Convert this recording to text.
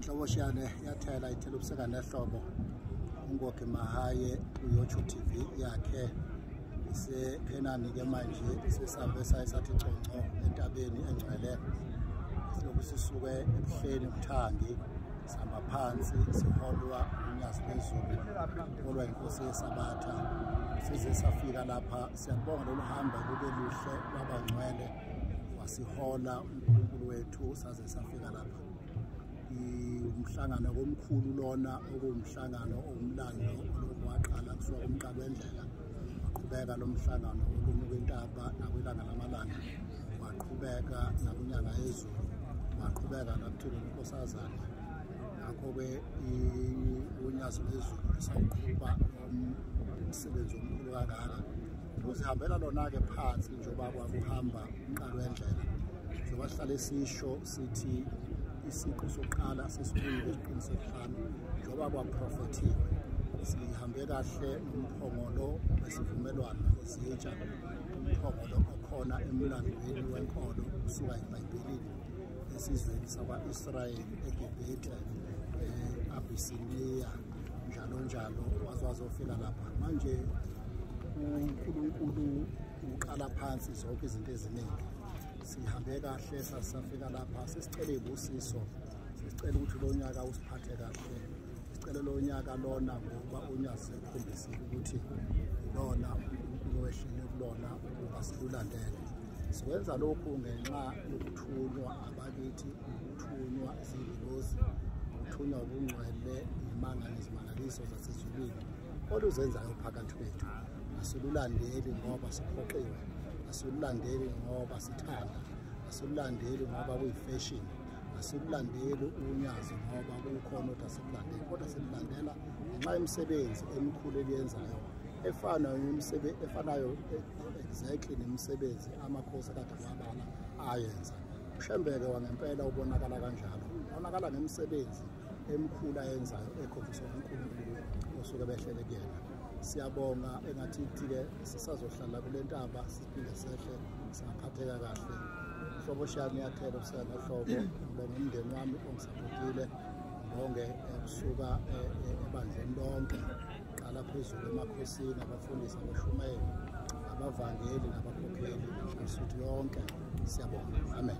inhlobo shiyane yathela ithela ubuseka nehlobo ungoge mahaye uyotsho tv yakhe isephenani ke manje sesambe saye sathi conco entabeni engcwele silokhu sisuke ebuhleni umthangi sihamba phansi siholwa unyazi lwezulu holwa inkosi yesabatha size safika lapha siyabonga lolu hamba lube luhle lwabangcwele wasihola unkulunkulu wethu saze safika lapha umhlangano komkhulu lona okuwumhlangano omlando olokhu waqala kusuka kumqala wendlela waqhubeka lo mhlangano ukunyuka intaba nakwilanga lamalanga waqhubeka nakunyanga yezulu waqhubeka nakuthula inkosazana ngakho-ke unyazi lwezulu lisawuqhuba umsebenzi omkhulu kangaka uzihambela lona-ke phansi njengoba kwakuhamba umqalo wendlela njengoba sihlale sisho sithi isiqu sokuqala sesikhulu eziqini sokuhlanu njengoba kwaprofethiwe sihambe kahle umphongolo wesivumelwano ezitsha umphongolo okhona emlandweni wenkolo kusuka ebhayibhelini esizweni sakwa-israyeli egibhithe um eh, abisiniya njalo njalo waze wazofika lapha manje uNkulunkulu uqala phansi zonke izinto eziningi sihambe kahle sasafika lapha sesicela ibusiso sicela ukuthi lo nyaka usiphathe kahle sicela lo nyaka lona ngoba unyazi ukhombisile ukuthi lona uwehlele kulona ukuba silulandele siwenza lokhu ngenxa yokuthulwa abakithi Ukuthunywa izingilosi, ukuthunywa ubungcwele, imanga nezimangaliso zasezulwini oluzenzayo phakathi kwethu. Asilulandeli ngoba siphoqiwe, asilulandeli ngoba sithanda, asilulandeli ngoba kuyifeshini asilulandeli unyazi ngoba kukhona ukuthi asilulandeli kodwa silulandela ngenxa yemisebenzi emikhulu eliyenzayo efanayo efanayo exactly nemisebenzi amakhosi kade wabala ayenza ushembeke wangempela ubonakala kanjalo ubonakala ngemisebenzi emikhulu ayenzayo ekhombisa unkulunkulu osuke behlele kuyena siyabonga engathithi-ke sisazohlala kule ntaba siphinde sehle singaphatheka kahle hlobo shami yathela ukusela hlobo ngibonga umndeni wami ongisapotile ngibonge eh, kusuka eh, eh, ebandleni lonke qala phezulu emakhosini abafundisi abashumayeli abavangeli nabakhokheli nsuthi yonke siyabonga amen